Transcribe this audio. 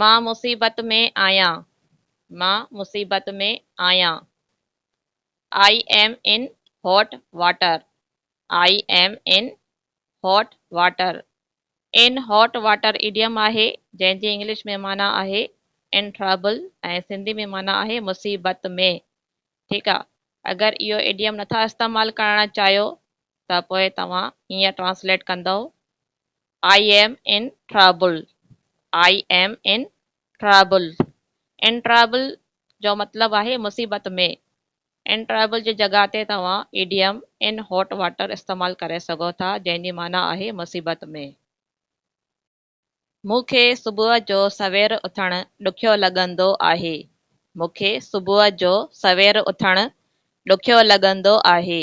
مان مصيبت ۾ آهيان مان مصيبت ۾ آهيان I am in hot water I am in hot water ان هاٽ واٽر ايڊيم آهي جنهن جي انگلش ۾ معنيٰ آهي ان ٽرابل ۽ سنڌي ۾ معنيٰ آهي مصيبت ۾ ٺيڪ آ اگر اهو ايڊيم نٿا استعمال ڪرڻ چاهيو ته پوء توهان هيئن ٽرانسليٽ ڪندئو I am in trouble, I am in trouble، in trouble جو مطلب آهي مصيبت ۾، ان ٽرابل جي جڳهه تي توهان ايڊيم ان هاٽ واٽر استعمال ڪري سگهو ٿا جنهن جي معنيٰ آهي مصيبت ۾. مون کي صبح جو سوير اٿڻ ڏکيو لڳندو آهي. مون کي صبح جو سوير اٿڻ ڏکيو لڳندو آهي.